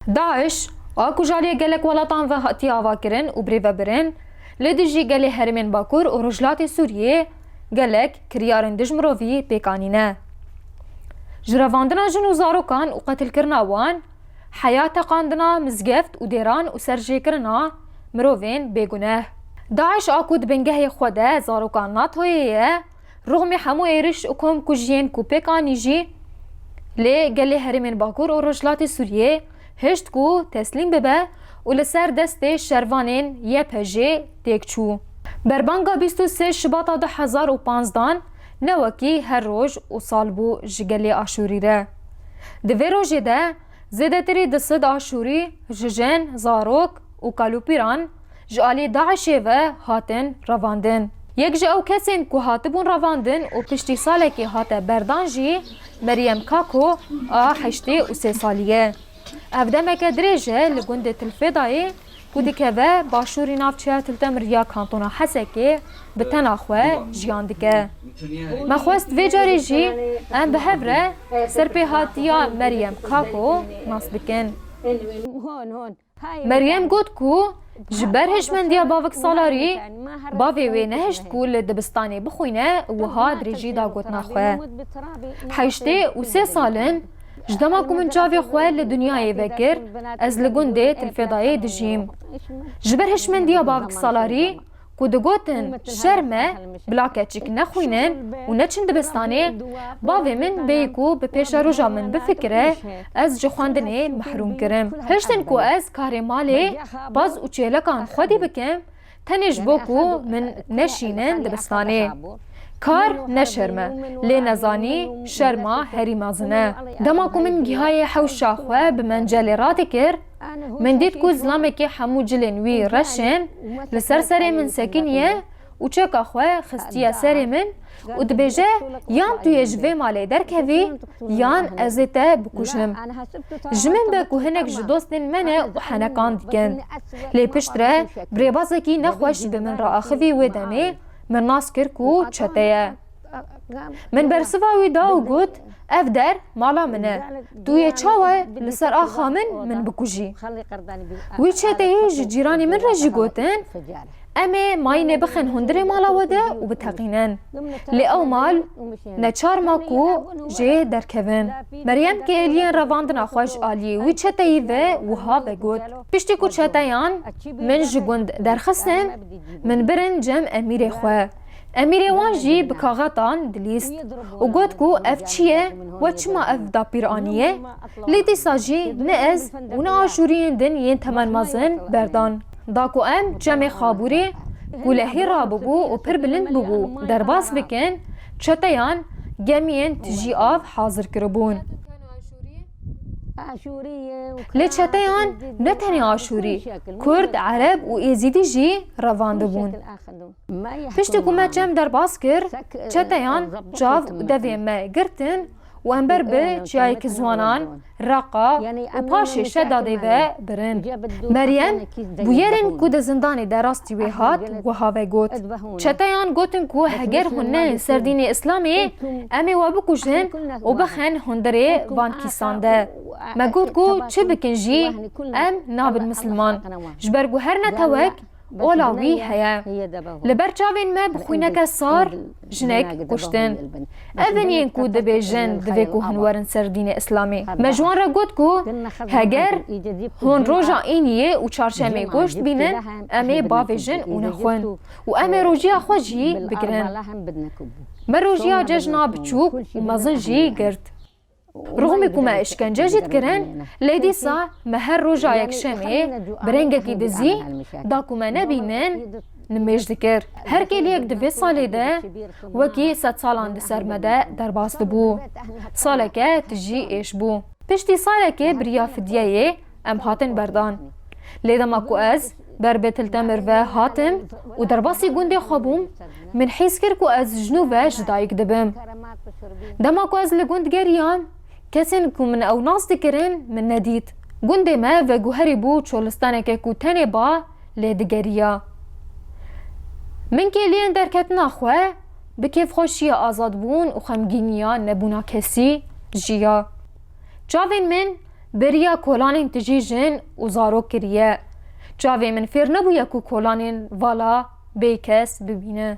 DAIŞ, a ku ji aliyê gelek welatan ve hatiye avakirin û birê vebirin, li dijî gelê herêmên Bakur û Rojhilatê Sûriyeyê gelek kiryarên dij mirovî pêk anîne. Ji revandina jin û zarokan û qetilkirina wan, heya teqandina mizgeft û dêran û serjêkirina mirovên bêguneh. DAIŞ a ku di bingehê xwe de zarokan NATO'yê ye, Ruxmî hemû êriş û komkujiyên ku pêk anî jî lê gelê herêmên Bakur û Rojhilatê Sûriyeyê hişt ku teslîm bibe û li ser destê şervanên YPJ'ê têk çû. Berbanga bîst û sê Şibata du hezar û panzdan ne wekî her roj û sal bû ji gelê Aşûrî re. Di vê rojê de zêdetirî du sed Aşûrî ji jin, zarok û kalûpîran, ji aliyê DAIŞ'ê ve hatin revandin. Yek ji ew kesên ku hatibûn revandin û piştî salekê hate berdan jî Meryem Kako a heştê û sê salî ye. Ev demeke dirêj e li gundê Tilfêdayê ku dikeve başûrî navçeya Tiltemir ya kantona Hesekê bi tena xwe jiyan dike. Me xwest vê carê jî em bi hev re serpêhatiya Meryem Kako nas bikin. Meryem got ku ji ber hişmendiya bavik salarî bavê wê nehişt ku li dibistanê bixwîne wiha dirêjî da gotina xwe. Heştê û sê sal in, ji dema ku min çavê xwe li dinyayê vekir ez li gundê Tilfêdayê dijîm. Ji ber hişmendiya bavik salarî ku digotin şer me bila keçik nexwînin û neçin dibistanê, bavê min bêyî ku bi pêşa roja min bifikire ez ji xwendinê mehrûm kirim. Hiştin ku ez karê malê, paz û çêlekan xwedî bikim tenê ji bo ku min neşînin dibistanê. Kar ne şerm e, lê nezanî şerma herî mezin e. Dema ku min gihayê hewşa xwe bi mencelê radikir, Min dît ku zilamekî hemû cilên wî reş in, li ser serê min sekiniye û çeka xwe xistiye serê min û dibêje yan tu yê ji vê malê derkevî yan ez ê te bikujim. Ji min be ku hinek ji dostên me ne û henekan dikin. Lê piştre bi rêbazekî nexweş bi min re axivî wê demê min nas kir ku çete ye. Min bersiva wî da û got, Ev der mala min e. Tu yê çawa li ser axa min min bikujî? Wî çeteyê ji cîranê min re jî gotin, Em ê mayînê bixin hundirê mala we de û biteqînin. Lê ew mal neçar ma ku jê derkevin. Meryem kê êliyên revandina xwe ji aliyê wî çeteyî ve wiha vegot, Piştî ku çeteyan min ji gund derxistin, min birin cem emîrê xwe. Emîrê wan jî bi kaxetan dilîst û got ku ev çi ye we çima ev dapîr aniye? Lê dîsa jî ne ez û ne aşûriyên din yên temen mezin berdan da ku em cemê Xabûrê ku li Hîra bûbû û pir bilind bûbû derbas bikin, çeteyan gemiyên tijî av hazir kiribûn. Lê çeteyan ne tenê aşûrî, kurd, ereb û êzîdî jî revandibûn. Piştî ku me çem derbas kir, çeteyan çav û devê me girtin û em ber bi Çiyayeke Ziwanan, Reqa û paşê Şedadê ve birin. Meryem bûyerên ku di zindanê de rastî wê hat wiha vegot, Çeteyan gotin ku heger hûn neyên ser dînê Îslamê em ê we bikujin û bixin hundirê van kîsan de. Me got ku çi bikin jî em nabin misilman ji ber ku her netewek Ola wî heye. Li ber çavên me bi xwîneke sar jinek kuştin. Ev in yên ku dibêjin divê ku hûn werin ser dînê îslamî. Me ji wan re got ku heger hûn roja îniyê û çarşemê goşt bînin em ê bavê jin û nexwin û em ê rojiya xwe jî bigirin. Me rojiya cejna biçûk û mezin jî girt. Rûmê ku me îşkence jî dikirin lê dîsa me her roja yekşemê bi rengekî dizî da ku me nebînin nimêj dikir. Her kêliyek di vê salê de wekî sed salan di ser me de derbas dibû. Saleke tijî êş bû. Piştî salekê biriya fidyeyê Em hatin berdan. Lê dema ku ez ber bi Tiltemir ve hatim û derbasî gundê xwe bûm, min hîs kir ku ez ji nû ve ji dayik dibim. Dema ku ez li gund geriyam, kesên ku min ew nas dikirin min nedît. Gundê me veguherî bû çolistaneke ku tenê ba lê digeriya. Min kêliyên derketina xwe bi kêfxweşiya azadbûn û xemgîniya nebûna kesî jiya. Çavên min Bêriya kolanên tijî jin û zarok kiriye. Çavê min fêr nebûye ku kolanên vala bê kes bibîne.